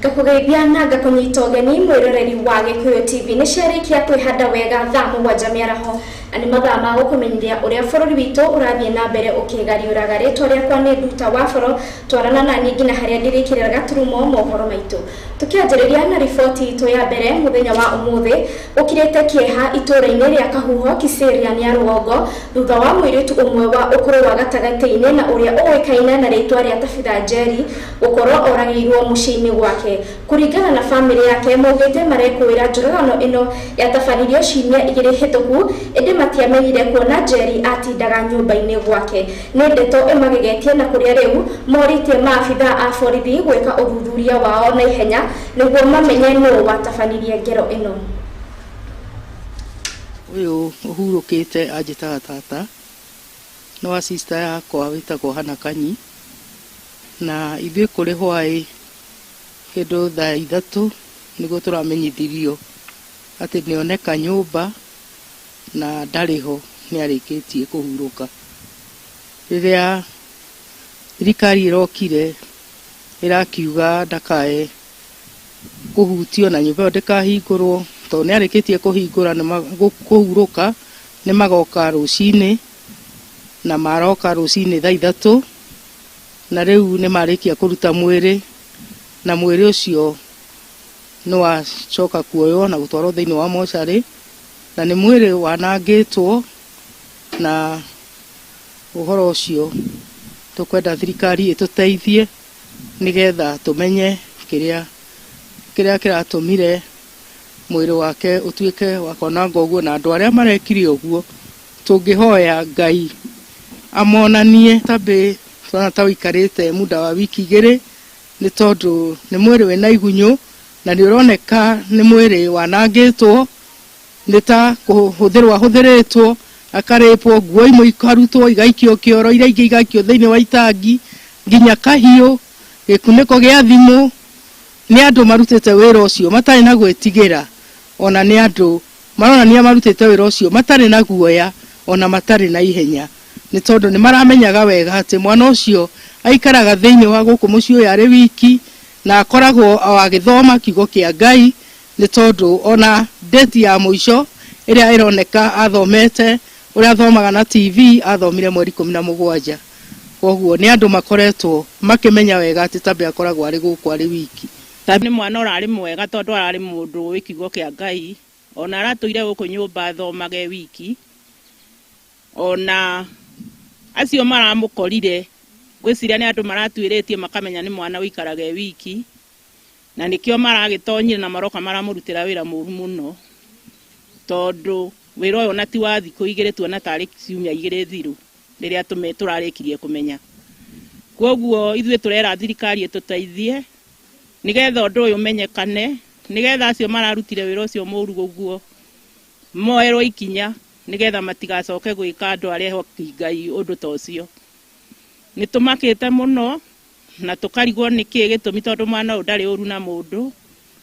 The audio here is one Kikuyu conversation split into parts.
ngakũgeithia na ngakũnyita ũgeni mwĩroreri wa gĩkũyũ tv nĩ ciarĩkia kwĩhanda wega thaa mũgwanja mĩaraho na nĩ mathaa ma gũkũmenyithia ũrĩa bũrũri witũ ũrathiĩ na mbere ũkĩgariũraga rĩtwa rĩakwa nĩ nduta wa boro twarana na niĩ nginya harĩa ndĩrĩkĩrĩra gaturumo mohoro maitũ tũkĩanjĩrĩria na riboti itũ ya mbere mũthenya wa ũmũthĩ Ũkirĩte kĩeha itũũra-inĩ rĩa Kahuho, Kiserian ya rũgongo, thutha wa mũirĩtu ũmwe wa ũkũrũ wa gatagatĩ-inĩ na ũrĩa ũĩkaine na rĩĩtwa rĩa Tabitha Njeri gũkorwo oragĩirwo mũciĩ-inĩ gwake. Kũringana na famĩlĩ yake, maugĩte marekũĩra njũragano ĩno yatabanirio ciumia igĩrĩ hĩtũku, ĩndĩ matiamenyire kuona Njeri atindaga nyũmba-inĩ gwake. Nĩ ndeto ĩmagegetie na kũrĩa rĩu morĩtie maabithaa a borithi gwĩka ũthuthuria wao na ihenya Nĩguo mamenye nũũ watabanirie ngero ĩno. Ũyũ ũhurũkĩte anjĩtaga tata, nĩ wa sister yakwa wĩtagwo Hannah Kanyi, na ithuĩ kũrĩ hwaĩ kĩndũ thaa ithatũ nĩguo tũramenyithirio atĩ nĩ oneka nyũmba na ndarĩ ho nĩ arĩkĩtie kũhurũka. Rĩrĩa thirikari ĩrokire ĩrakiuga ndakae kũhutio na nyũmba ĩyo ndĩkahingũrwo tondũ nĩ arĩkĩtie kũhingũra kũhurũka nĩ magoka rũcinĩ na maroka rũcinĩ thaa ithatũ na rĩu nĩ marĩkia kũruta mwĩrĩ na mwĩrĩ ũcio nĩ wacoka kuoywo na gũtwarwo thĩinĩ wa mocarĩ na nĩ mwĩrĩ wanangĩtwo na Ũhoro ũcio tũkwenda thirikari ĩtũteithie nĩgetha tũmenye kĩrĩa kĩrĩa kĩratũmire mwĩrĩ wake ũtuĩke wa kwananga ũguo na andũ arĩa marekire ũguo tũngĩhoya Ngai amonanie tambĩ tũrona ta ũikarĩte muda wa wiki igĩrĩ nĩ tondũ nĩ mwĩrĩ wĩna igunyũ na nĩ ũroneka nĩ mwĩrĩ wanangĩtwo Nĩ ta kũhũthĩrwo ahũthĩrĩtwo, akarĩpwo, nguo imwe ikarutwo igaikio kĩoro, iria ingĩ igaikio thĩinĩ wa itangi, nginya kahiũ, gĩkunĩko gĩa thimũ. Nĩ andũ marutĩte wĩra ũcio matarĩ na gwĩtigĩra, o na nĩ andũ maronania marutĩte wĩra ũcio matarĩ na guoya, o na matarĩ na ihenya, nĩ tondũ nĩ maramenyaga wega atĩ mwana ũcio aikaraga thĩinĩ wa gũkũ mũciĩ ũyũ arĩ wiki, na akoragwo o agĩthoma Kiugo kĩa Ngai, Nĩ tondũ ona date ya mũico ĩrĩa ĩroneka athomete, ũrĩa athomaga na TV athomire mweri ikũmi na mũgwanja. Kwoguo nĩ andũ makoretwo makĩmenya wega atĩ Tabea akoragwo arĩ gũkũ arĩ wiki. Tabea nĩ mwana ũrarĩ mwega tondũ ararĩ mũndũ ũĩ kiugo kĩa Ngai. Ona aratũire gũkũ nyũmba athomaga e wiki. Ona acio maramũkorire ngwĩciria nĩ andũ maratuĩrĩtie makamenya nĩ mwana ũikaraga e wiki. Na nĩkĩo maragĩtonyire na maroka maramũrutĩra wĩra mũru mũno, tondũ wĩra ũyũ ona ti wa thikũ igĩrĩ, tuona tarĩ ciumia igĩrĩ thiru rĩrĩa tũrarĩkirie kũmenya. Kwoguo ithuĩ tũrera thirikari ĩtũteithie nĩgetha ũndũ ũyũ ũmenyekane, nĩgetha acio mararutire wĩra ũcio mũru ũguo moerwo ikinya, nĩgetha matigacoke gwĩka andũ arĩa ehoki Ngai ũndũ ta ũcio. Nĩ tũmakĩte mũno Na tũkarigwo nĩ kĩĩ gĩtũmi tondũ mwana ũyũ ndarĩ ũru na mũndũ,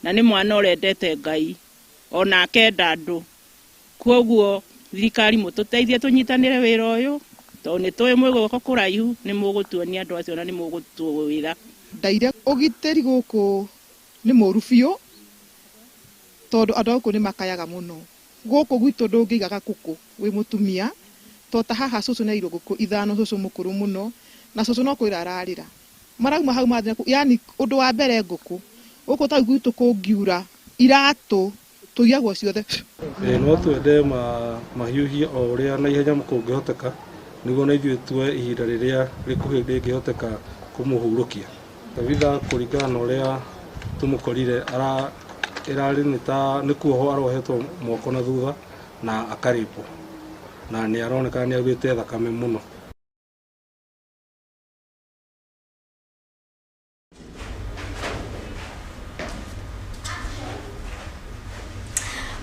na nĩ mwana ũrendete Ngai, o na akenda andũ. Kwoguo thirikari mũtũteithie tũnyitanĩre wĩra ũyũ, tondũ nĩ tũĩ mwĩ guoko kũraihu, nĩ mũgũtuonia andũ acio na nĩ mũgũtwĩra. Ndaire, Ũgitĩri gũkũ nĩ mũru biũ, tondũ andũ a gũkũ nĩ makayaga mũno. Gũkũ gwitũ ndũngĩigaga ngũkũ wĩ mũtumia to ta haha cũcũ nĩaigirwo ngũkũ ithano cũcũ mũkũrũ mũno na cũcũ no kũrĩra ararĩra marauma hau mathii nakũu yaani ũndũ wa mbere ngũkũ gũkũ ta rĩu gwitũ kũngiura iratũ tũiyagwo ciothe. Ĩĩ no twende mahiũhie o ũrĩa na ihenya kũngĩhoteka nĩguo na ithuĩ tuoye ihinda rĩrĩa rĩkuhĩ rĩngĩhoteka kũmũhurũkia. Tabitha kũringana na ũrĩa tũmũkorire ĩrarĩ nĩ ta nĩ kuohwo arohetwo moko na thutha na akarĩpwo na nĩ aroneka nĩ augĩte thakame mũno.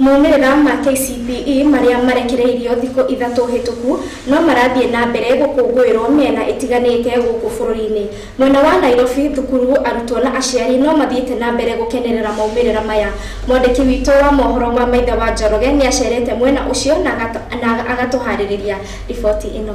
Maumĩrĩra ma KCPE marĩa marekereirio thikũ ithatũ hĩtũku no marathiĩ na mbere gũkũngũĩrwo mĩena ĩtiganĩte gũkũ bũrũri-inĩ. Mwena wa Nairobi, thukuru, arutwo na aciari no mathiĩte na mbere gũkenerera maumĩrĩra maya. Mwandĩki witũ wa mohoro wa Maitha wa Njoroge nĩacerete mwena ũcio na agatũharĩrĩria riboti ĩno.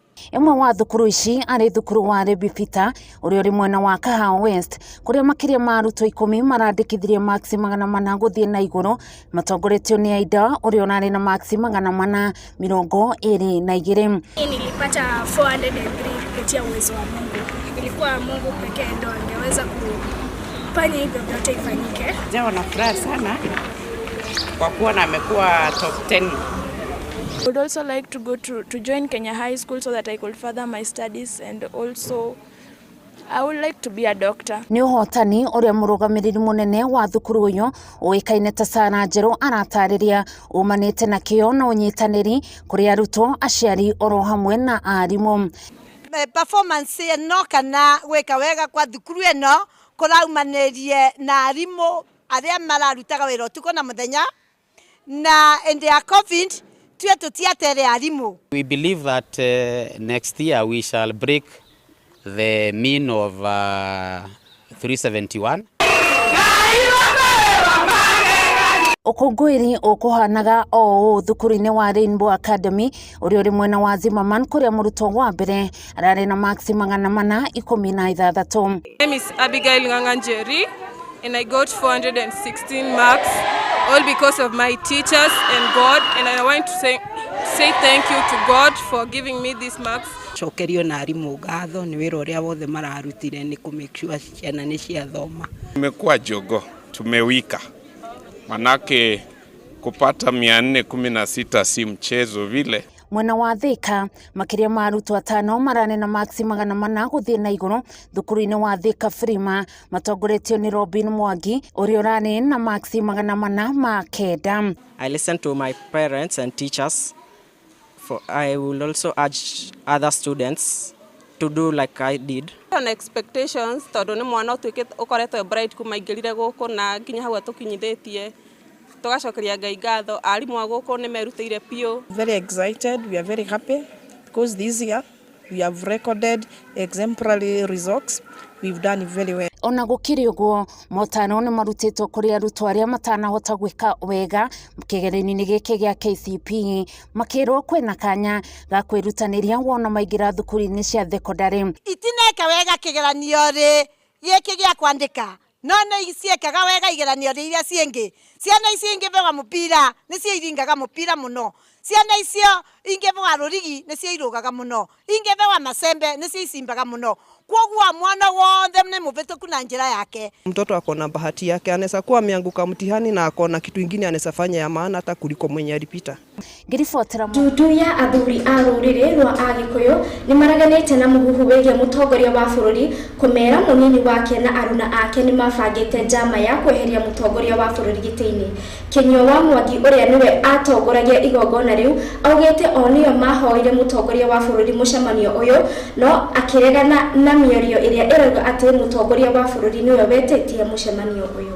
Ĩmwe wa thukuru ici arĩ thukuru wa Rebifita ũrĩa ũrĩ mwena wa Kahawa West kũrĩa makĩria ma arutwo ikũmi marandĩkithirie maksi magana mana gũthiĩ na igũrũ matongoretio nĩ Aida ũrĩa ũrarĩ na maksi magana mana mĩrongo ĩrĩ na igĩrĩ. Mimi nilipata 403 kupitia uwezo wa Mungu. Ilikuwa Mungu pekee ndo angeweza kufanya hivyo vyote ifanyike. Jawa na furaha sana kwa kuwa na amekuwa top 10 I would also like to go to, to join Kenya High School so that I could further my studies and also I would like to be a doctor. nĩ ũhotani ũrĩa mũrũgamĩrĩri mũnene wa thukuru ũyũ ũĩkaine ta Sara Njerũ aratarĩria umanĩte na kĩyo na ũnyitanĩri kũrĩ arutwo aciari oro hamwe na arimũ eh, performance ĩno kana gwĩka wega kwa thukuru ĩno kũraumanĩrie na arimũ arĩa mararutaga wĩra ũtukũ na mũthenya na hĩndĩ ya covid tue tũtiatere arimũ. We believe that uh, next year we shall break the mean of uh, 371. Ũkũngũĩri ũkũhanaga o ũũ thukuru-inĩ wa Rainbow Academy ũrĩa ũrĩ mwena wa Zimmerman kũrĩa mũrutwo wa mbere ararĩ na maksi magana mana ikũmi na ithathatũ. My name is Abigail Nganga Njeri and I got 416 marks all because of my teachers and God and I want to say, say thank you to God for giving me these marks. cokerio na arimũ ngatho nĩ wĩra ũrĩa wothe mararutire nĩ kũ make sure ciana nĩ ciathoma Tumekuwa jogo, tumewika, manake kupata 416 si mchezo vile. Mwena wa Thika, makĩria ma arutwo atano maranena maksi magana mana gũthiĩ na igũrũ thukuru-inĩ wa Thika Frima matongoretio nĩ Robin Mwangi ũrĩa ũranena na maksi magana mana ma kenda. I listen to my parents and teachers. For I will also urge other students to do like I did. On expectations tondũ nĩ mwana ũtuĩkĩte ũkoretwo e bright kuma aingĩrire gũkũ na nginya hau atũkinyithĩtie. Tũgacokeria Ngai ngatho, arimũ a gũkũ nĩ merutĩire biũ. Very excited, we are very happy because this year we have recorded exemplary results, we've done very well. Ona gũkĩrĩ ũguo, motaro nĩ marutĩtwo kũrĩ arutwo arĩa matanahota gwĩka wega kĩgeranio-inĩ gĩkĩ gĩa KCPE, makĩrwo kwĩna kanya ga kwĩrutanĩria wona maingĩra thukuru-inĩ cia thekondarĩ. Itineka wega kĩgeranio-rĩ gĩkĩ gĩa kwandĩka. No nĩ ciekaga wega igeranio-inĩ iria cingĩ. Ciana icio ingĩbũga mũbira nĩcio iringaga mũbira mũno. Ciana icio ingĩbũga rũrigi nĩcio irũgaga mũno. Ingĩbũga macembe nĩcio icimbaga mũno. Kwoguo mwana wothe nĩ mũbĩtũku na njĩra yake. Mtoto ako na bahati yake, anaweza kuwa ameanguka mtihani na ako na kitu ingine anaweza fanya ya maana hata kuliko mwenye alipita. Ndutu ya athuri a rũrĩrĩ rwa Agĩkũyũ nĩmareganĩte na mũhuhu wĩgiĩ mũtongoria wa bũrũri kũmera mũnini wake na aruna ake nĩmabangĩte njama ya kweheria mũtongoria wa bũrũri gĩtĩ-inĩ. Kĩnyua wa Mwangi ũrĩa nĩwe atongoragia igongona rĩu augĩte o nĩo mahoire mũtongoria wa bũrũri mũcemanio ũyũ no akĩregana na mĩario ĩrĩa ĩrauga atĩ mũtongoria wa bũrũri nĩwe wetĩtie mũcemanio ũyũ.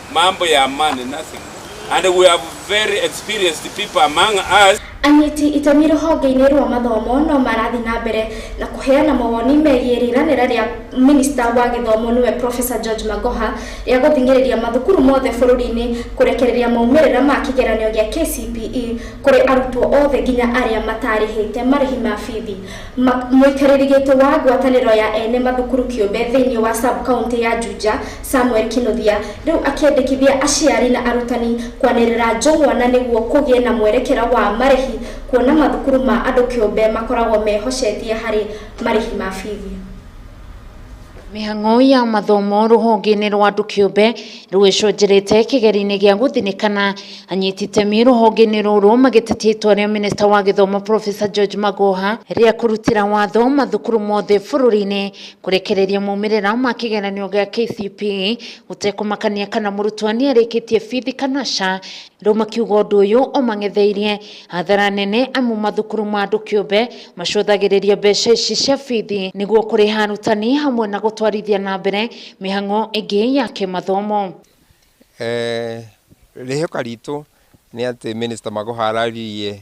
mambo ya amani nothing and we have very experienced people among us Anyiti itemi rũhonge-inĩ rwa mathomo no marathiĩ na mbere na kũheana mawoni megiĩ rĩranĩra rĩa minista wa gĩthomo nĩwe Professor George Magoha rĩa gũthing'ĩrĩria mathukuru mothe bũrũri-inĩ kũrekereria maumĩrĩra ma kĩgeranio gĩa KCPE kũrĩ arutwo othe nginya arĩa matarĩhĩte marĩhi ma bithi. Ma- Mũikarĩri gĩtĩ wa ngwatanĩro ya ene mathukuru kĩũmbe thĩinĩ wa sub county ya Juja Samuel Kinuthia rĩu akĩendekithia aciari na arutani kwanĩrĩra njũng'wa na nĩguo kũgĩe na mwerekera wa marĩhi kuona mathukuru ma andũ kĩũmbe makoragwo mehocetie harĩ marĩhi ma bithi. Mĩhang'o ya mathomo rũhonge-inĩ rwa andũ kĩũmbe rũgĩcũnjĩrĩte kĩgeri-inĩ gĩa gũthinĩkana, anyiti itemi rũhonge-inĩ rũrũ magĩtetia itua rĩa minista wa gĩthomo Professor George Magoha rĩa kũrutĩra watho mathukuru mothe bũrũri-inĩ Kũrekereria maumĩrĩra ma kĩgeranio gĩa KCPE gũtekũmakania kana mũrutwo nĩ arĩkĩtie bithi kana ca, rĩu makiuga ũndũ ũyũ ũmang'etheirie hathara nene amu mathukuru ma andũ kĩũmbe macũthagĩrĩria mbeca ici cia bithi nĩguo kũrĩha arutani hamwe na gũtwarithia na mbere mĩhang'o ĩngĩ ya kĩmathomo. Rĩhoka ritũ nĩ atĩ Mĩnĩsta Magoha araririe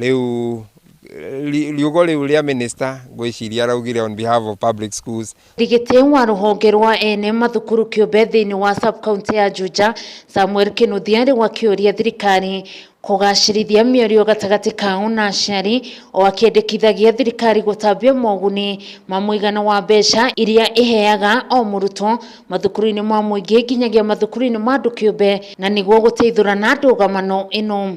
Rĩu riugo rĩu rĩa minister ngwĩciria araugire on behalf of public schools. Ndigiti wa rũhonge rwa ene mathukuru kĩũmbe thĩinĩ wa sub-county ya Juja, Samuel Kĩnuthia rĩu akĩũria thirikari kũgacĩrithia mĩario gatagatĩ kao na aciari, o akĩendekithagia thirikari gũtambia moguni ma mũigana wa mbeca iria ĩheaga o mũrutwo mathukuru-inĩ ma mũingĩ nginyagia mathukuru-inĩ ma andũ kĩũmbe na nĩguo gũteithũrana ndũgamano ĩno.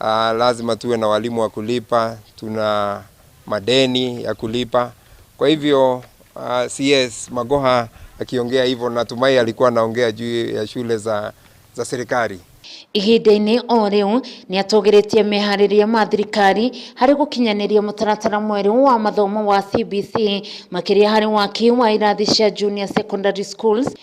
Ah, lazima tuwe na walimu wa kulipa, tuna madeni ya kulipa. Kwa hivyo ah, CS Magoha akiongea hivyo, natumai alikuwa anaongea juu ya shule za, za serikali. ihinda-inĩ o rĩu nĩ atũgĩrĩtie meharĩria ma thirikari harĩ gũkinyanĩria mũtaratara mwerũ wa mathomo wa CBC makĩria harĩ waki wa irathi cia junior secondary schools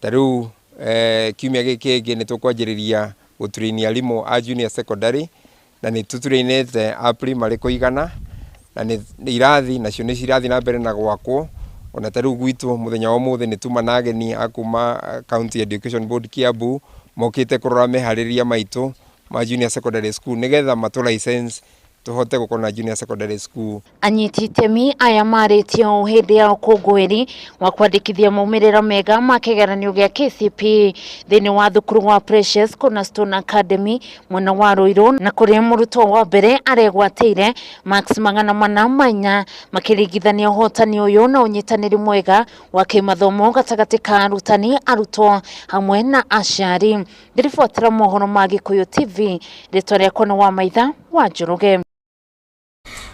Ta rĩu kiumia gĩkĩ kĩngĩ nĩ tũkwanjĩrĩria gũturĩinia arimũ a junior secondary, na nĩ tũturĩinĩte a primary kũigana, na nĩ irathi nacio nĩ cirathiĩ na mbere na gwakwo, ona ta rĩu gwitũ mũthenya wa ũmũthĩ nĩ tuma na ageni a kuma County Education Board Kiambu, mokĩte kũrora meharĩrĩria maitũ ma junior secondary school nĩgetha matũ license. tũhote gũkorwo na junior secondary school. Anyiti itemi aya marĩtie ũũ hĩndĩ ya ũkũngũĩri wa kwandĩkithia maumĩrĩra mega ma kĩgeranio gĩa KCPE thĩinĩ wa thukuru wa Precious Cornerstone Academy mwena wa Ruiru na kũrĩa mũrutwo wa mbere aregwatĩire marks magana mana ma inya makĩringithania ũhotani ũyũ na ũnyitanĩri mwega wa kĩmathomo gatagatĩ ka arutani, arutwo hamwe na aciari. Ndĩribotera mohoro ma Gĩkũyũ TV, rĩtwa rĩakwa nĩ Wamaitha wa Njoroge.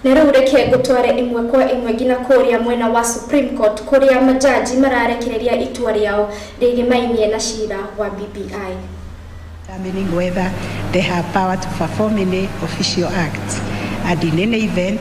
Na rĩu reke ngũtware ĩmwe kwa ĩmwe nginya kũrĩa mwena wa Supreme Court kũrĩa majaji mararekereria itua rĩao rĩgĩmainie na cira wa BBI. determining whether they have power to perform any official act and in any event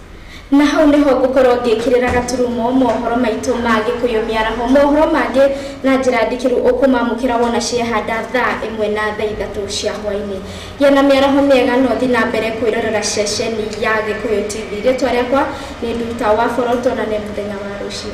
Na hau nĩho ngũkorwo ngĩkĩrĩra gaturumo mohoro maitũ ma Gĩkũyũ Mĩaraho. Mohoro mangĩ na njĩra ndikĩru ũkũmamũkĩra wona ciehanda thaa ĩmwe na thaa ithatũ cia hwainĩ. Gĩa na mĩaraho mĩega na ũthi na mbere kwĩrorera ceceni ya Gĩkũyũ TV. Rĩtwa rĩakwa nĩ Nduta wa Boroto na nĩ mũthenya wa rũciũ.